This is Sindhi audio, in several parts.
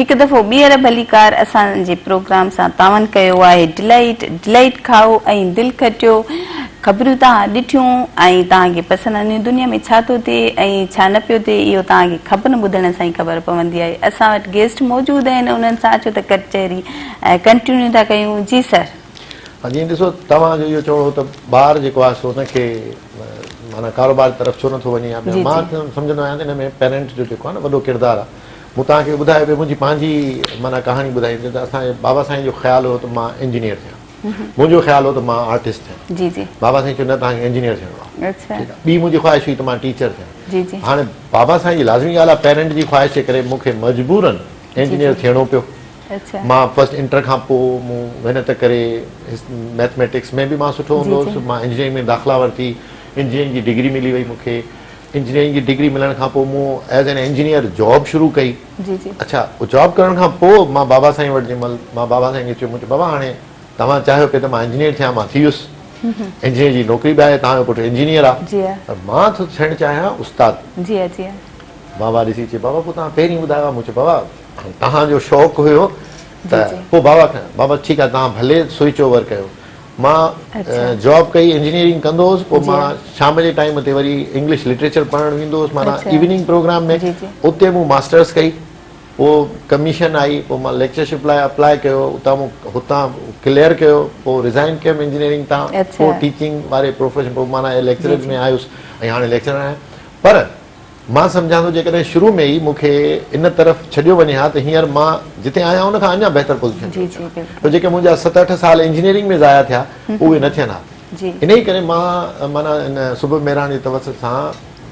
هڪ دفعو ٻيهر ڀليڪار اسان جي پروگرام سان تعاون ڪيو آهي ڊلائيٽ ڊلائيٽ کائو ۽ دل کٽيو خبرون توهان ڏٺيون ۽ توهان کي پسند آنديون دنيا ۾ ڇا ٿو ٿئي ۽ ڇا نه پيو ٿئي اهو توهان کي خبرن ٻڌڻ سان ئي خبر پوندي آهي اسان وٽ گيسٽ موجود آهن انهن سان اچو ته ڪچهري ۽ ڪنٽينيو ٿا ڪيون جي سر. ها جيئن ڏسو توهان جو اهو چوڻ هو ته ٻار جيڪو آهي سو ان کي معنيٰ ڪاروبار جي طرف ڇو نٿو وڃي يا ٻيو مان سمجهندو آهيان ته ان ۾ پيرنٽ جو جيڪو آهي نه وڏو ڪردار آهي مون توهان کي ٻڌايو به منهنجي پنهنجي معنيٰ ڪهاڻي ٻڌائي ته اسان جي بابا سائين جو خيال هو ته مان انجنيئر ٿيان منهنجو خيال هو ته مان آرٽسٽ ٿيان بابا سائين چيو نه توهان کي انجنيئر ٿيڻو آهي ٺيڪ آهي ٻي منهنجي خواهش هئي ته مان ٽيچر ٿيان هاڻي بابا سائين جي لازمي ڳالهه آهي پيرنٽ جي خواهش جي ڪري مون کي مجبورن انجنيئر ٿيڻو پيو مان فرسٽ انٽر کان پوء مون محنت ڪري ميٿميٽڪس ۾ به مان سٺو هوندو هوس مان انجنيئرنگ ۾ داخلا ورتي انجنيئرنگ جي ڊگري ملي وئي مون کي انجنيئرنگ جي ڊگري ملڻ کان پوء مون ايز اين انجنيئر جاب شروع ڪئي اڇا جاب ڪرڻ کان پوء مان بابا سائين وٽ جنهن مهل مان بابا سائين کي چيو مون چيو بابا هاڻي توهان چاهيو پئي ته مان انجنيئر ٿيان مان ٿي ويس انجنيئر جي نوڪري به آهي توهان جو پٽ انجنيئر آهي پر مان ٿو ٿيڻ چاهيان استاد بابا ڏسي چي بابا پوء توهان پهرين ٻڌايو ها مون چيو بابا توهان جو شوق هيو ته پوء بابا کان بابا ٺيڪ آهي توهان ڀلي سوئچ اوور ڪيو مان جاب ڪئي انجنيئرنگ ڪندو هوس پوء مان شام جي ٽائيم تي وري انگلش لٽريچر پڙهڻ ويندو هوس معنيٰ ايوننگ پروگرام ۾ اتي مون ماسٽرس ڪئي پوء ڪميشن آئي پوء مان ليڪچرشپ لاء اپلائي ڪيو اتان مون هتان ڪليئر ڪيو پوء رزائن ڪيم انجنيئرنگ تان پوء ٽيچنگ واري پروفيشن پوء معنيٰ ليڪچرز ۾ آيس ۽ هاڻي ليڪچرر آهيان پر مان سمجهان ٿو جيڪڏهن شروع ۾ ئي مون کي ان طرف ڇڏيو وڃي ها ته هينئر مان جتي آهيان ان کان اڃا بهتر پوزيشن تي هجان ها ته جيڪي منهنجا ست اٺ سال انجنيئرنگ ۾ ضايع ٿيا اهي نه ٿين ها انهي ڪري مان معنيٰ ان سبب مهراڻ جي توسط سان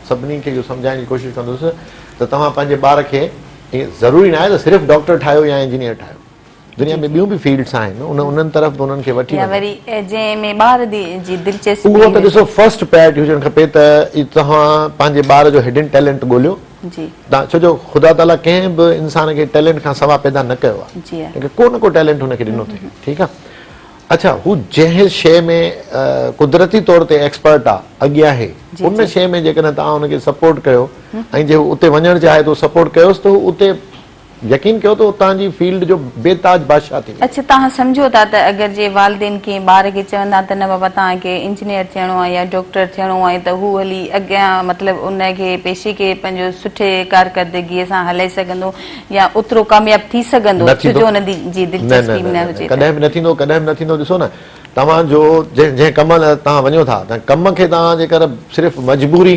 سڀني کي اهو سمجهائڻ جي ڪوشش ڪندس ته توهان پنهنجي ٻار کي ضروري ناهي ته صرف ڊاڪٽر ٺاهيو يا انجنيئر ٺاهيو دنيا ۾ ٻيون به فيلڊس آهن انهن طرف به انهن کي وٺي وڃو يا وري جنهن ۾ ٻار جي دلچسپي هجي اهو ته ڏسو فرسٽ پرائرٽي هجڻ کپي ته توهان پنهنجي ٻار جو هڊن ٽيلنٽ ڳوليو جي ڇو جو خدا تعاليٰ ڪنهن به انسان کي ٽيلنٽ کان سوا پيدا نه ڪيو آهي جي ها ڪو نه ڪو ٽيلنٽ هن کي ڏنو اٿئي ٺيڪ آهي اڇا هو جنهن شيء ۾ قدرتي طور تي ايڪسپرٽ آهي اڳي آهي ان شيء ۾ جيڪڏهن توهان هن کي سپورٽ ڪيو ۽ جي هو اتي وڃڻ چاهي ٿو سپورٽ ڪيوس ته هو اتي يقين ڪيو ته اتان جي فيلڊ جو بي تاج بادشاهه ٿي ويو. اڇ توهان سمجهو ٿا ته اگر جي والدين ڪنهن ٻار کي چون ها ته نه بابا توهان کي انجنيئر ٿيڻو آهي يا ڊاڪٽر ٿيڻو آهي ته هو هلي اڳيان مطلب ان کي پيشي کي پنهنجو سٺي ڪارڪردگي سان هلائي سگهندو يا اوترو ڪامياب ٿي سگهندو نه ٿيندو. ڇو جو ان جي نه دلچسپي نه نه نه نه هجي ته. ڪڏهن به نه ٿيندو ڪڏهن به نه ٿيندو ڏسو نه توهان جو جنهن جنهن ڪم لاء توهان وڃو ٿا تنهن ڪم کي توهان جيڪر صرف مجبوري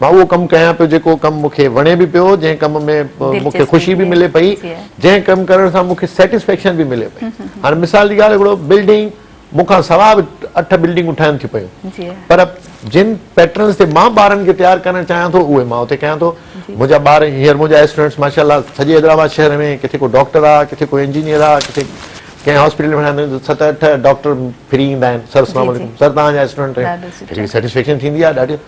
مان اهو ڪم ڪيان پيو جيڪو ڪم مون کي وڻي به پيو، جنهن ڪم ۾ مون کي خوشي به ملي پئي، جنهن ڪم ڪرڻ سان مون کي سيٽسفيڪشن به ملي پئي. هاڻي مثال جي ڳالهه هڪڙو بلڊنگ مون کان سواء به اٺ بلڊنگون ٺهن ٿيون پيون پر جن پيٽرنز تي مان ٻارن کي تيار ڪرڻ چاهيان ٿو اهي مان اتي ڪيان ٿو. منهنجا ٻار هينئر منهنجا اسٽوڊنٽس ماشاء الله سڄي حيدرآباد شهر ۾ ڪٿي ڪو ڊاڪٽر آهي ڪٿي ڪو انجنيئر آهي ڪٿي ڪنهن هاسپيٽل ۾ ويندا آهن ست اٺ ڊاڪٽر ڦري ايندا آهن سر اسلام عليڪم سر توهان جا اسٽوڊنٽ آهيون سيٽسفيڪشن ٿيندي آهي ڏاڍي.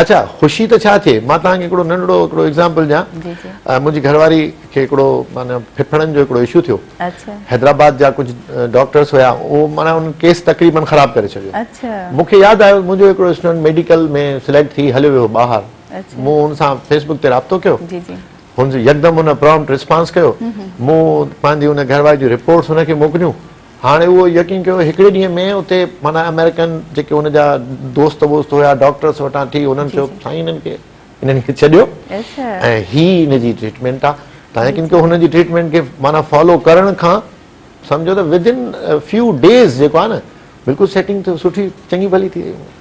اڇا خوشي ته ڇا ٿئي مان توهان کي هڪڙو ننڍڙو هڪڙو ايگزامپل ڏيان منهنجي گهرواري کي هڪڙو معنيٰ ڦڦڙن جو هڪڙو اشو ٿيو حيدرآباد جا ڪجهه ڊاڪٽرس هيا اهو معنيٰ ان ڪيس تقريبن خراب ڪري ڇڏيو مون کي ياد آيو منهنجو هڪڙو اسٽوڊنٽ ميڊيڪل ۾ سليڪٽ ٿي هليو ويو ٻاهر مون هن سان فيس بڪ تي رابطو ڪيو هن يڪدم هن پرامپٽ رسپانس ڪيو مون پنهنجي ان گهرواري جون رپورٽس هن کي موڪليون هاڻي اهو يقين ڪيو هڪڙي ڏينهن ۾ اتي معنيٰ آمريڪن جيڪي هن جا دوست ووست هيا ڊاڪٽرس وٽان ٿي هنن چيو سائين هنن کي هنن کي ڇڏيو ۽ هي هن جي ٽريٽمينٽ آ تان يقين ڪيو هنن جي ٽريٽمينٽ کي معنيٰ فالو ڪرڻ کان سمجهو ته ودن فيو ڊيز جيڪو آ نه بلڪل سيٽنگ ٿيو سٺي چڱي ڀلي ٿي وئي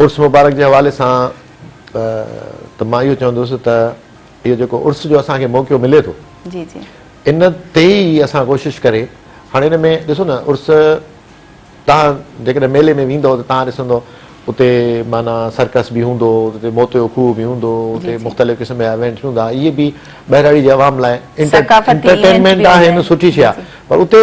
عرس مبارڪ جي حوالي سان ته مان اهو چوندس ته اهو جيڪو عرس جو اسان کي موقعو ملي ٿو ان تي ئي اسان ڪوشش ڪري هاڻي ان ۾ ڏسو نه عرس تان جيڪڏهن ميلي ۾ ويندو ته تان ڏسندو اتي معنيٰ سرڪس به هوندو اتي موتيو کوهه به هوندو اتي مختلف قسم جا ايونٽ هوندا اهي به ٻهراڙي جي عوام لاء انٽرٽينمينٽ آهن سٺي شيء آهي پر اتي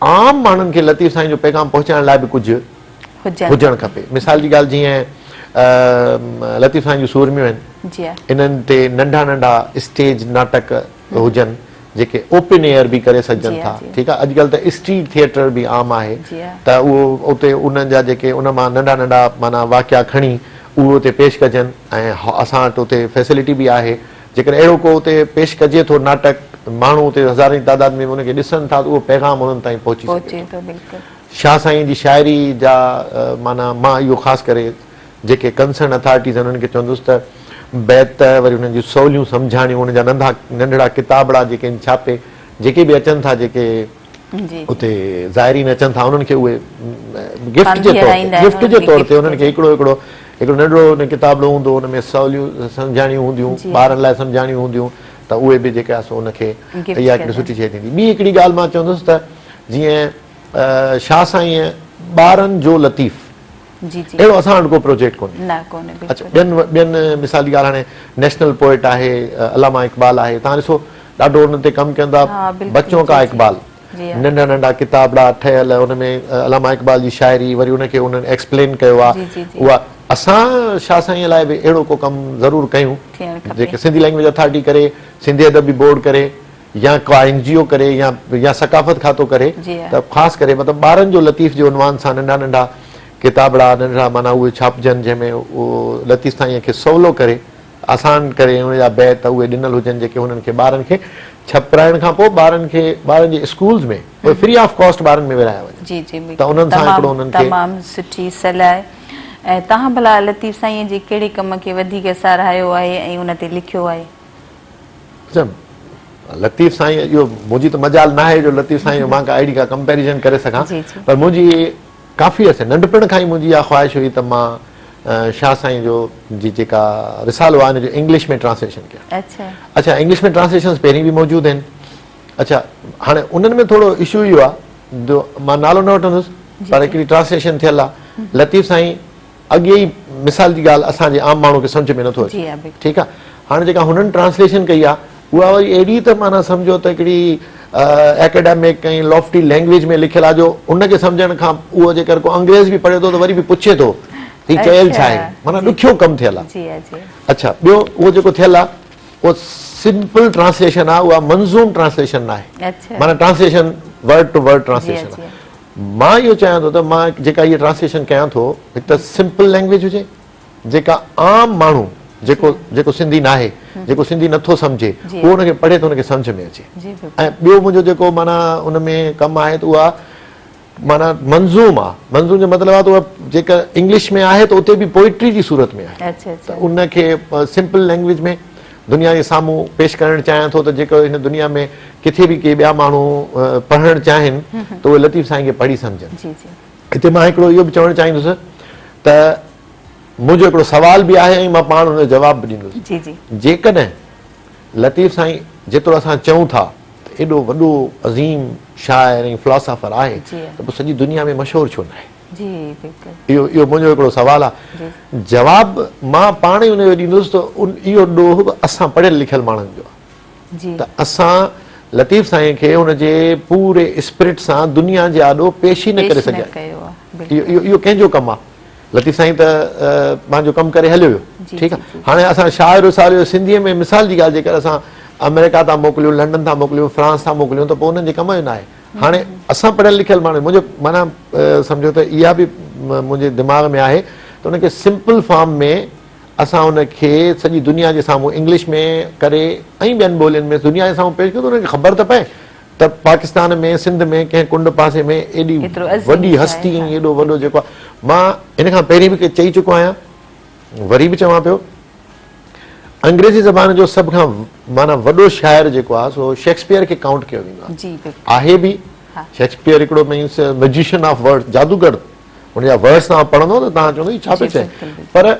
عام ماڻهن کي لطيف سائين جو پيغام پهچائڻ لاء به ڪجهه هجڻ کپي مثال جي ڳالهه جيئن لطيف سائين جون سورميون آهن انهن تي ننڍا ننڍا اسٽيج ناٽڪ هجن جيڪي اوپن ايئر به ڪري سگهجن ٿا ٺيڪ آهي اڄ ڪلهه ته اسٽريٽ ٿيئٽر به عام آهي ته اهو اتي انهن جا جيڪي ان مان ننڍا ننڍا معنيٰ واقعا کڻي اهو اتي پيش ڪجن ۽ اسان وٽ اتي فيسلٽي به آهي جيڪڏهن اهڙو ڪو اتي پيش ڪجي ٿو ناٽڪ، ماڻهو اتي هزارين تعداد ۾ به ان کي ڏسن ٿا ته اهو پيغام انهن تائين پهچي سگهي ٿو. شاهه سائين جي شاعري جا معنيٰ مان اهو خاص ڪري جيڪي ڪنسرن اٿارٽيز آهن انهن کي چوندس ته بيت وري انهن جون سوليون سمجهاڻيون ان جا ننڍا ننڍڙا ڪتابڙا جيڪي آهن ڇاپي جيڪي به اچن ٿا جيڪي اتي زائرين اچن ٿا انهن کي اهي گفٽ جي طور تي گفٽ جي طور تي انهن کي هڪڙو هڪڙو هڪڙو ننڍڙو ان ڪتابڙو هوندو ان ۾ سوليون سمجهاڻيون هونديون ٻارن لاء سمجهاڻيون هونديون ته اهي به جيڪا سو ان کي اها هڪڙي سٺي شيء ٿيندي ٻي هڪڙي ڳالهه مان چوندس ته جيئن شاهه سائين ٻارن جو لطيف جي جي اهڙو اسان وٽ ڪو پروجيڪٽ ڪونهي نه ڪونهي بلڪل ٻين ٻين مثال جي ڳالهه هاڻي نيشنل پوئٽ آهي علامه اقبال آهي تان ڏسو ڏاڍو ان تي ڪم ڪندا بچو ڪا اقبال ننڍا ننڍا ڪتابڙا ٺهيل ان ۾ علامه اقبال جي شاعري وري ان کي انهن ايڪسپلين ڪيو آهي اها اسان شاهه سائين لاء به اهڙو ڪو ڪم ضرور ڪيون جيڪي سنڌي لينگويج اٿارٽي ڪري سنڌي ادبي بورڊ ڪري يا ڪا اين جي او ڪري يا يا ثقافت کاتو ڪري ته خاص ڪري مطلب ٻارن جو لطيف جي عنوان سان ننڍا ننڍا ڪتابڙا ننڍڙا معنيٰ اهي ڇاپجن جنهن ۾ اهو لطيف سائينء کي سولو ڪري آسان ڪري ان جا بيت اهي ڏنل هجن جيڪي هنن کي ٻارن کي ڇپرائڻ کان پوء ٻارن کي ٻارن جي اسڪولز ۾ اهي فري آف ڪاسٽ ٻارن ۾ ورهايا وڃن جي جي ته انهن سان هڪڙو انهن کي تمام سٺي صلاح ۽ توهان ڀلا لطيف سائينء جي ڪهڙي ڪم کي وڌيڪ ساراهيو آهي ۽ ان تي لکيو آهي؟ لطيف سائين اهو منهنجي ته مجال ناهي جو لطيف سائين مان ڪا اهڙي ڪا ڪمپيريزن ڪري سگهان پر منهنجي ڪافي عرصي ننڍپڻ کان ئي منهنجي اها خواهش هئي ته مان شاهه سائين جو جي جيڪا رسالو آهي ان جو انگلش ۾ ٽرانسليشن ڪيان اڇا انگلش ۾ ٽرانسليشنس پهرين به موجود آهن اڇا هاڻي انهن ۾ ٿورو اشو اهو آهي جو مان نالو نه وٺندس پر هڪڙي ٽرانسليشن ٿيل آهي لطيف سائين اڳي ئي مثال جي ڳالهه اسان جي عام ماڻهو کي سمجهه ۾ نٿو اچي ٺيڪ آهي هاڻي جيڪا هنن ٽرانسليشن ڪئي آهي اها وري اهڙي ته معنيٰ سمجهو ته هڪڙي اڪيڊمڪ ۽ لافٽي لينگويج ۾ لکيل آهي جو ان کي سمجهڻ کان اهو جيڪر ڪو انگريز به پڙهي ٿو ته وري به پڇي ٿو هي ڪيل ڇا آهن معنيٰ ڏکيو ڪم ٿيل آهي اڇا ٻيو اهو جيڪو ٿيل آهي اهو سمپل ٽرانسليشن آهي اها منظوم ٽرانسليشن ناهي معنيٰ translation word to word translation مان اهو چاهيان ٿو ته مان جيڪا هيء ٽرانسليشن ڪيان ٿو هڪ ته سمپل لينگويج هجي جيڪا عام ماڻهو جيڪو جيڪو سنڌي ناهي جيڪو سنڌي نٿو سمجهي اهو ان کي پڙهي ته ان کي سمجهه ۾ اچي ۽ ٻيو منهنجو جيڪو معنيٰ ان ۾ ڪم آهي ته اها معنيٰ منظوم آهي منظوم جو مطلب آهي ته اها جيڪا انگلش ۾ آهي ته اتي به پوئٽري جي صورت ۾ آهي ته ان کي سمپل لينگويج ۾ دنيا جي سامهون پيش ڪرڻ چاهيان ٿو ته جيڪر هن دنيا ۾ ڪٿي به ڪي ٻيا ماڻهو پڙهڻ چاهين ته اهي لطيف سائين کي پڙهي سمجهن هتي مان هڪڙو اهو به چوڻ چاهيندس ته منهنجو هڪڙو سوال به آهي ۽ مان پاڻ ان جو جواب به ڏيندس جيڪڏهن لطيف سائين جيترو اسان چئون ٿا ته ايڏو وڏو عظيم شاعر ۽ فلاسافر آهي ته پوء سڄي دنيا ۾ مشهور ڇو ناهي جي بلڪل اهو اهو منهنجو هڪڙو سوال آ جواب مان پاڻ ئي ان جو ڏيندس ته ان اهو ڏوهه به اسان پڙهيل لکيل ماڻهن جو آ جي ته اسان لطيف سائين کي ان جي پوري اسپرٽ سان دنيا جي آڏو پيش ئي نه ڪري سگهيا اهو اهو ڪنهن جو ڪم آ لطيف سائين ته پنهنجو ڪم ڪري هليو ويو ٺيڪ آ هاڻي اسان شاعر وسار جو سنڌي ۾ مثال جي ڳالهه جيڪر اسان آمريڪا ٿا موڪليون لنڊن ٿا موڪليون فرانس ٿا موڪليون ته پوء انهن جي ڪم جو ناهي هاڻي اسان پڙهيل لکيل ماڻهو منهنجو معنيٰ سمجهو ته اها به منهنجي دماغ ۾ آهي ته ان کي سمپل فارم ۾ اسان ان کي سڄي دنيا جي سامهون انگلش ۾ ڪري ۽ ٻين ٻولين ۾ دنيا جي سامهون پيش ڪيون ته انهن کي خبر ته پئي ته پاڪستان ۾ سنڌ ۾ ڪنهن ڪنڊ پاسي ۾ ايڏي وڏي هستي ۽ ايڏو وڏو جيڪو آهي مان هن کان پهرين به چئي چڪو آهيان وري به چوان پيو انگريزي زبان جو سڀ کان معنيٰ وڏو شاعر جيڪو آهي سو شيڪسپيئر کي ڪائونٽ ڪيو ويندو آهي جي بلڪل آهي به ها شيڪسپيئر هڪڙو مينس ميجيشن آف ورڊ جادوگر هن جا ورڊس تان پڙهندو ته تان چوندو هي ڇا پيو چئي پر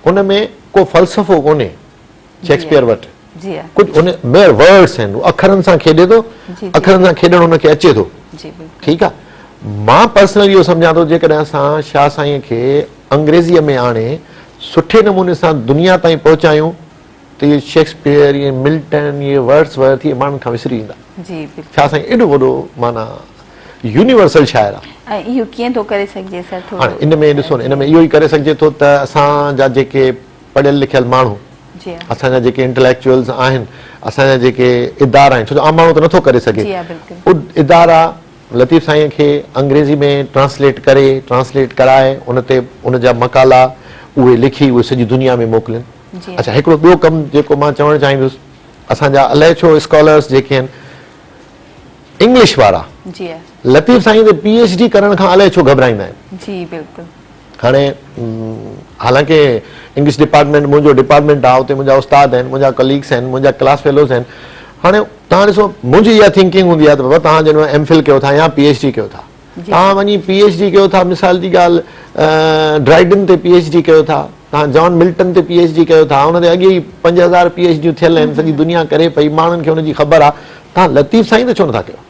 ان ۾ ڪو فلسفو ڪونهي شيڪسپيئر وٽ ڪجهه ان ميئر ورڊس آهن هو اکرن سان کيڏي ٿو اکرن سان کيڏڻ هن کي اچي ٿو ٺيڪ آهي مان پرسنل اهو سمجهان ٿو جيڪڏهن اسان شاهه سائين کي انگريزيء ۾ آڻي سٺي نموني سان دنيا تائين پهچايون ته اهي شيڪسپيئر اهي ملٽن اهي ورڊس ورث اهي ماڻهن کان وسري ويندا شاهه سائين ايڏو وڏو معنيٰ يونيورسل شاعر آهي اهو ڪيئن ٿو ڪري سگهجي سر ٿورو ان ۾ ڏسو ان ۾ اهو ئي ڪري سگهجي ٿو ته اسان جا جيڪي پڙهيل لکيل ماڻهو اسان جا جيڪي انٽليڪچوئلز آهن اسان جا جيڪي ادارا آهن ڇو جو عام ماڻهو ته نٿو ڪري سگهي ادارا لطيف سائين کي انگريزي ۾ ٽرانسليٽ ڪري ٽرانسليٽ ڪرائي ان تي ان جا مقالا اهي لکي اهي سڄي دنيا ۾ موڪلين اچا هڪڙو ٻيو ڪم جيڪو مان چوڻ چاهيندس اسان جا الائي ڇو اسڪالرس جيڪي آهن انگلش وارا لطيف سائين تي پي ايچ ڊي ڪرڻ کان الائي ڇو گهبرائيندا آهن جي بلڪل هاڻي حالانڪ انگلش ڊپارٽمينٽ منهنجو ڊپارٽمينٽ آهي اتي منهنجا استاد آهن منهنجا ڪليگس آهن منهنجا ڪلاس فيلوز آهن هاڻي تهان ڏسو منهنجي اها ٿنڪنگ هوندي آهي ته بابا تهان جڏهن ايم فل ڪيو ٿا يا پي ايڇ ڊي ڪيو ٿا تهان وڃي پي ايڇ ڊي ڪيو ٿا مثال جي ڳالهه ڊرائيڊن تي پي ايڇ ڊي ڪيو ٿا تهان جان ملٽن تي پي ايڇ ڊي ڪيو ٿا ان تي اڳي ئي پنج هزار پي ايڇ ڊيون ٿيل آهن سڄي دنيا ڪري پئي ماڻهن کي ان جي خبر آهي تهان لطيف سائين ته ڇو نٿا ڪيو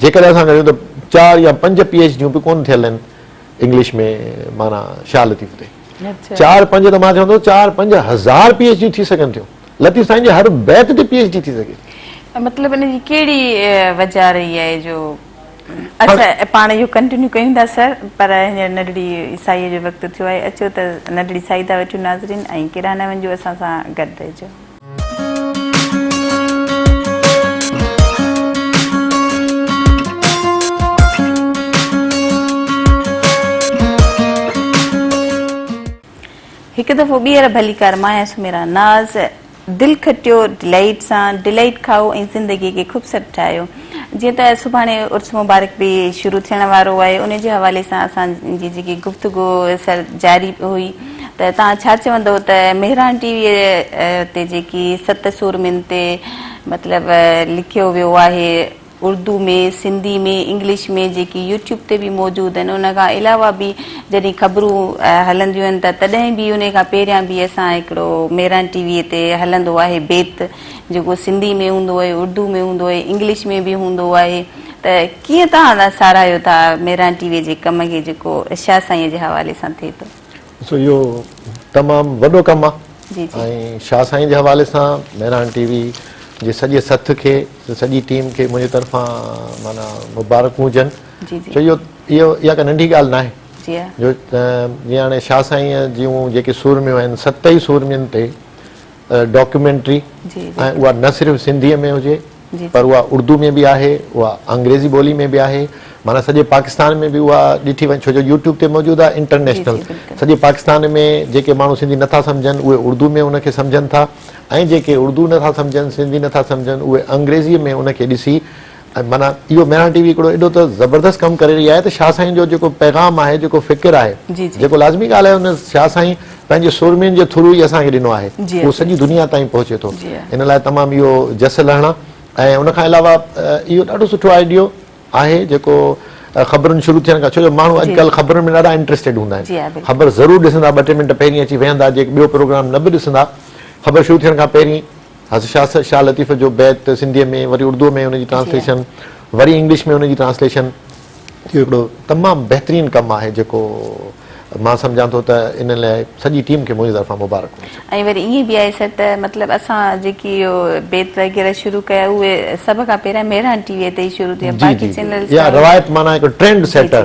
جيڪڏهن اسان ڳڻيون ته چار يا پنج پي ايڇ ڊيون به ڪونه ٿيل آهن انگلش ۾ معنيٰ شاهه لطيف تي چار پنج ته مان چوان ٿو چار پنج هزار پي ايڇ ڊيون ٿي سگهن ٿيون لطيف سائين جي هر بيت تي پي ايڇ ڊي ٿي سگهي ٿي مطلب ان جي ڪهڙي وجهه رهي آهي جو اچا پاڻ اهو ڪنٽينيو ڪيون ٿا سر پر هينئر ننڍڙي سائيء جو وقت ٿيو آهي اچو ته ننڍڙي سائي ٿا وٺون ناظرين ۽ ڪيڏانهن نه وڃجو اسان سان گڏ رهجو هڪ دفعو ٻيهر ڀلي ڪار مايا سميرا ناز دل کٽيو ڊلائيٽ سان ڊلائيٽ کائو ۽ زندگي کي خوبصورت ٺاهيو جيئن ته سڀاڻي عرس مبارڪ به شروع ٿيڻ وارو آهي ان جي حوالي سان اسان جي جيڪي گفتگو سر جاري هئي ته توهان ڇا چوندو ته مهراڻ ٽي وي تي جيڪي ست سورمين تي مطلب لکيو ويو آهي اردو ۾ سنڌي ۾ انگلش ۾ جيڪي يوٽيوب تي به موجود آهن ان کان علاوه به جڏهن خبرون هلنديون آهن ته تڏهن به ان کان پهريان به اسان هڪڙو مهراڻ ٽي وي تي هلندو آهي بيت جيڪو سنڌي ۾ هوندو آهي، اردو ۾ هوندو آهي، انگلش ۾ به هوندو آهي ته ڪيئن تهان ساراهيو ٿا ميران ٽي وي جي ڪم کي جيڪو شاهه سائينء جي حوالي سان ٿئي ٿو. ڏسو اهو تمام وڏو ڪم آهي ۽ شاهه سائين جي حوالي سان ميران ٽي وي جي سڄي سٿ کي سڄي ٽيم کي منهنجي طرفان معنيٰ مبارڪون هجن ڇو جو اهو اها ڪا ننڍي ڳالهه ناهي جو جيئن هاڻي شاهه سائينء جون جيڪي سورميون آهن ست ئي سورمين تي ڊاڪيومينٽري ۽ اها نه صرف سنڌي ۾ هجي پر اها اردو ۾ به آهي اها انگريزي ٻولي ۾ به آهي معنيٰ سڄي پاڪستان ۾ به اها ڏٺي وڃي ڇو جو يوٽيوب تي موجود آهي انٽرنيشنل سڄي پاڪستان ۾ جيڪي ماڻهو سنڌي نٿا سمجهن اهي اردو ۾ ان کي سمجهن ٿا ۽ جيڪي اردو نٿا سمجهن سنڌي نٿا سمجهن اهي انگريزي ۾ ان کي ڏسي معنيٰ اهو ميران ٽي وي هڪڙو ايڏو ته زبردست ڪم ڪري رهي آهي ته شاهه سائين جو جيڪو پيغام آهي جيڪو فڪر آهي جيڪو لازمي ڳالهه آهي ان شاهه سائين پنهنجي سورمين جي ٿرو ئي اسان کي ڏنو آهي اهو سڄي دنيا تائين پهچي ٿو ان لاء تمام اهو جس لهڻا ۽ ان کان علاوه اهو ڏاڍو سٺو آئيڊيو آهي جيڪو خبرن شروع ٿيڻ کان ڇو جو ماڻهو اڄڪلهه خبرن ۾ ڏاڍا انٽرسٽيڊ هوندا آهن خبر ضرور ڏسندا ٻه ٽي منٽ پهرين اچي ويهندا جيڪي ٻيو پروگرام نه به ڏسندا خبر شروع ٿيڻ کان پهرين حضرت شاهه صاحب شاهه لطيف جو بيت سنڌيء ۾ وري اردوء ۾ ان جي ٽرانسليشن وري انگلش ۾ ان جي ٽرانسليشن اهو هڪڙو تمام بهترين ڪم آهي جيڪو مان سمجهان ٿو ته ان لاء سڄي ٽيم کي منهنجي طرفان مبارڪ هجي. ۽ وري ائين به آهي سر ته مطلب اسان جيڪي اهو بيت وغيره شروع ڪيا اهي سڀ کان پهريان مهراڻ ٽي وي تي ئي شروع ٿيا باقي چينلز تي روايت معنيٰ هڪ ٽرينڊ سيٽر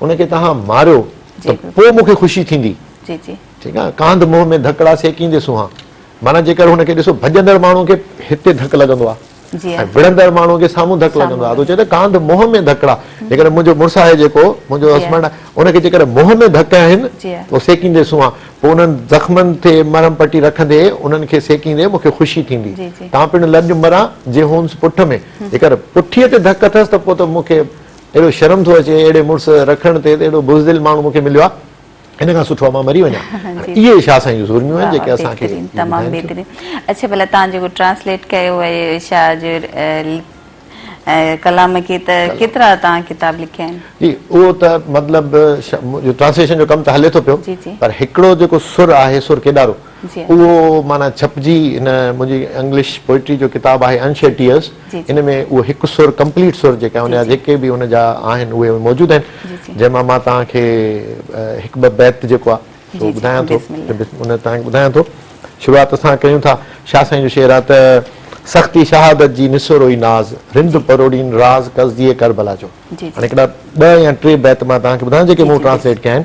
ان کي توهان ماريو ته پوء مون کي خوشي ٿيندي. ٺيڪ آهي. ڪانڌ منهن ۾ ڌڪ ڙا سيڪيندي سونهان. معنيٰ جيڪر هن کي ڏسو ڀڄندڙ ماڻهو کي هتي ڌڪ لڳندو آهي ۽ وڙهندڙ ماڻهو کي سامهون ڌڪ لڳندو آهي. تو چئين ته ڪانڌ منهن ۾ ڌڪ ڙا. جيڪڏهن منهنجو مڙس آهي جيڪو منهنجو هسبنڊ آهي ان کي جيڪڏهن منهن ۾ ڌڪ هنئين ته سيڪيندي سونهان. پوء انهن زخمن تي مرهم پٽي رکندي انهن کي سيڪيندي مون کي خوشي ٿيندي. تان پڻ لڄ مران جي هونس پٺ ۾. جيڪر پٺيء تي ڌڪ اٿس ته پوء ته مون کي اهڙو شرم ٿو اچي اهڙي مڙس رکڻ تي ته اهڙو بزدل ماڻهو مون کي مليو آ ان کان سٺو آ مان مري وڃان هاڻي اهي شاهه سائين جون سورميون آهن جيڪي اسان کي بهترين تمام بهترين اڇي ڀلا تان جيڪو ٽرانسليٽ ڪيو اهي شاهه جو ڪلام کي ته ڪيترا تان ڪتاب لکيا آهن جي اهو ته مطلب جو ٽرانسليشن جو ڪم ته هلي ٿو پيو پر هڪڙو جيڪو سر آهي سر ڪيڏارو اهو معنيٰ ڇپجي هن منهنجي انگلش پوئٽري جو ڪتاب آهي Unshed Tears ان ۾ اهو هڪ سر ڪمپليٽ سر جيڪا هن جا جيڪي به هن جا آهن اهي موجود آهن جنهن مان مان توهان کي هڪ ٻه بيت جيڪو آهي سو ٻڌايان ٿو ان توهان کي ٻڌايان ٿو شروعات اسان ڪيون ٿا شاهه سائين جو شعر آهي ته سختي شهادت جي نسوروئي ناز رند پروڙين راز قصديء ڪربلا جو هاڻي هڪڙا ٻه يا ٽي بيت مان توهان کي ٻڌايان جيڪي مون ٽرانسليٽ ڪيا آهن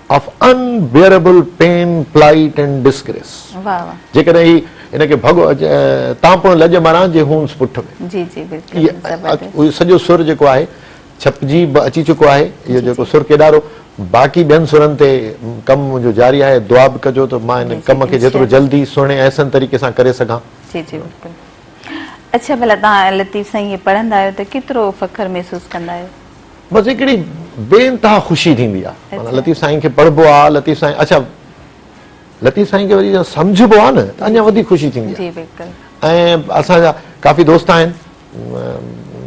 of unbearable pain, plight and disgrace. واه واه. جيڪڏهن هي هن کي ڀڳو تانپڻ لڄ مران جي هونس پٺ ۾. جي جي بلڪل زبردست. اهو سڄو سر جيڪو آهي ڇپجي به اچي چڪو آهي اهو جيڪو سر ڪيڏارو باقي ٻين سرن تي ڪم منهنجو جاري آهي دعا به ڪجو ته مان هن ڪم کي جيترو جلدي سهڻي احسن طريقي سان ڪري سگهان. جي جي بلڪل. اڇا ڀلا تهان لطيف سائين هي پڙهندا آهيو ته ڪيترو فخر محسوس ڪندا آهيو؟ بس هڪڙي بي انتها خوشي ٿيندي آ معنيٰ لطيف سائين کي پڙهبو آ لطيف سائين اڇا لطيف سائين کي وري سمجهبو آ نه ته اڃا وڌيڪ خوشي ٿيندي آ جي بلڪل ۽ اسان جا ڪافي دوست آهن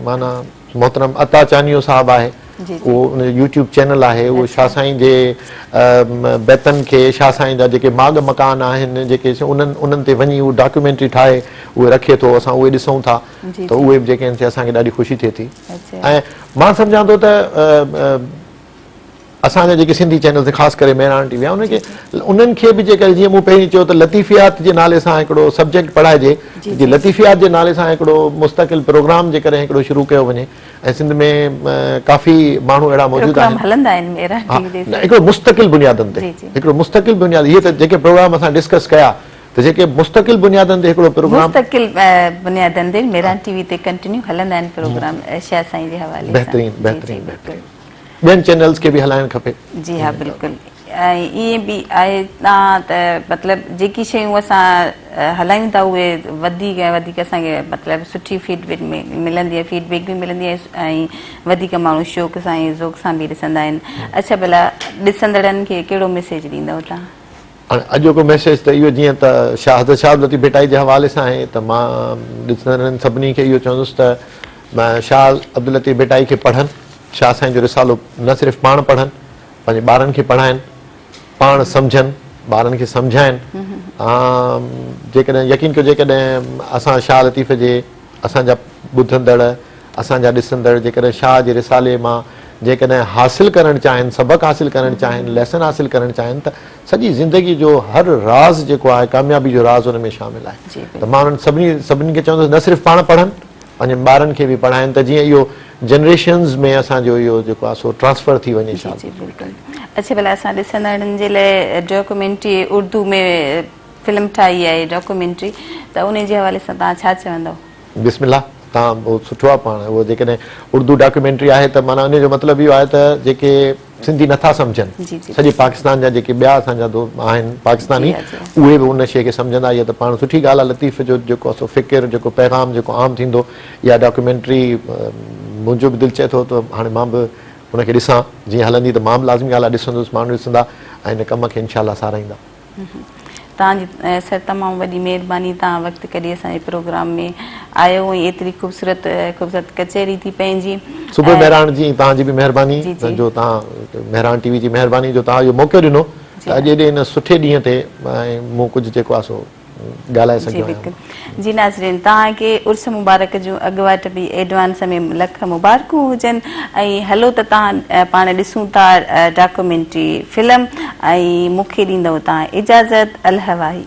معنيٰ محترم عطا چانيو صاحب آهي جي جي اهو ان جو يوٽيوب چينل آهي اهو شاھ سائين جي بيتن کي شاھ سائين جا جيڪي ماڳ مڪان آهن جيڪي انهن انهن تي وڃي اهو ڊاڪيومينٽري ٺاهي اهي رکي ٿو اسان اهي ڏسون ٿا جي ته جي اهي به جيڪي آهن سي اسان کي ڏاڍي خوشي ٿئي ٿي ۽ مان سمجهان ٿو ته اسان جا جيڪي سنڌي چينلز آهن خاص ڪري مهراڻ ٽي وي انهن کي انهن کي به جيڪڏهن جيئن مون پهرين چيو ته لطيفيات جي نالي سان هڪڙو سبجيڪٽ پڙهائجي جي لطيفيات جي نالي سان هڪڙو مستقل پروگرام جيڪڏهن هڪڙو شروع ڪيو وڃي ۽ سنڌ ۾ ڪافي ماڻهو اهڙا موجود آهن پروگرام هلندا آهن مهراڻ ٽي وي تي هڪڙو مستقل بنيادن تي هڪڙو مستقل بنياد هي ته جيڪي پروگرام اسان ڊسڪس ڪيا ته جيڪي مستقل بنيادن تي هڪڙو پروگرام. مستقل بنيادن تي ميران ٽي وي تي ڪنٽينيو هلندا آهن پروگرام شاهه سائين جي حوالي سان. بهترين بهترين بهترين ٻين چينلز کي به هلائڻ کپي. جي ها بلڪل ۽ ائين به آهي تان ته مطلب جيڪي شيون اسان هلايون ٿا اهي وڌيڪ ۽ وڌيڪ اسان کي مطلب سٺي فيڊ بيڪ ملندي آهي فيڊ بيڪ به ملندي آهي ۽ وڌيڪ ماڻهو شوق سان ذوق سان به ڏسندا آهن اڇا ڀلا ڏسندڙن کي ڪهڙو ميسيج ڏيندو تان. هاڻي اڄوڪو ميسيج ته اهو جيئن ته شاهه حضرت شاهه عبداللطيف ڀٽائي جي حوالي سان آهي ته مان ڏسندڙن هنن سڀني کي اهو چوندس ته شاهه عبداللطيف ڀٽائي کي پڙهن شاهه سائين جو رسالو نه صرف پاڻ پڙهن پنهنجي ٻارن کي پڙهائن پاڻ سمجهن ٻارن کي سمجهائن جيڪڏهن يقين ڪيو جيڪڏهن اسان شاهه لطيف جي اسان جا ٻڌندڙ، اسان جا ڏسندڙ جيڪڏهن شاهه جي رسالي مان جيڪڏهن حاصل ڪرڻ چاهين، سبق حاصل ڪرڻ چاهين، ليسن حاصل ڪرڻ چاهين ته سڄي زندگي جو هر راز جيڪو آهي ڪاميابي جو راز ان ۾ شامل آهي ته مان انهن سڀني سڀني کي چوندس نه صرف پاڻ پڙهن پنهنجن ٻارن کي به پڙهائين ته جيئن اهو جنريشنز ۾ اسان جو اهو جيڪو آهي سو ٽرانسفر ٿي وڃي شاهه جي. اڇي ڀلا اسان ڏسندڙن جي لاء ڊاڪيومينٽري اردو ۾ فلم ٺاهي آهي ڊاڪومينٽري ته انهي جي حوالي سان توهان ڇا چوندؤ؟ بسم الله تان بهت سٺو آ پاڻ اهو جيڪڏهن اردو ڊاڪيومينٽري آهي ته معنيٰ انهي جو مطلب اهو آهي ته جيڪي سنڌي نٿا سمجهن سڄي پاڪستان جا جيڪي ٻيا اسان جا دو آهن پاڪستاني اهي به ان شي کي سمجهندا اهي ته پاڻ سٺي ڳالهه آ لطيف جو جيڪو اسو فڪر جيڪو پيغام جيڪو عام ٿيندو اها ڊاڪيومينٽري منهنجو به دل چئي ٿو ته هاڻي مان به ان کي ڏسان جيئن هلندي ته مان به لازمي ڳالهه آ ڏسندس ماڻهو ڏسندا ۽ ان ڪم کي انشاء الله ساراهيندا. توهان جي سر تمام وڏي مهرباني توهان وقت ڪڍي اسان جي پروگرام ۾ آيو ۽ ايتري خوبصورت خوبصورت ڪچهري ٿي پنهنجي. صبح مهراڻ جي توهان جي به مهرباني جو توهان مهراڻ ٽي وي جي مهرباني جو توهان اهو موقعو ڏنو ته اڄ ايڏي ان سٺي ڏينهن تي مون ڪجهه جيڪو آهي سو ڳالهائي سگهيو آهيان. جي ناظرين توهان کي عرس مبارڪ جون اڳواٽ به ايڊوانس ۾ لک مبارڪون هجن ۽ هلو ته توهان پاڻ ڏسون ٿا ڊاڪومينٽري فلم ۽ مون کي ڏيندؤ توهان اجازت الهه واهي.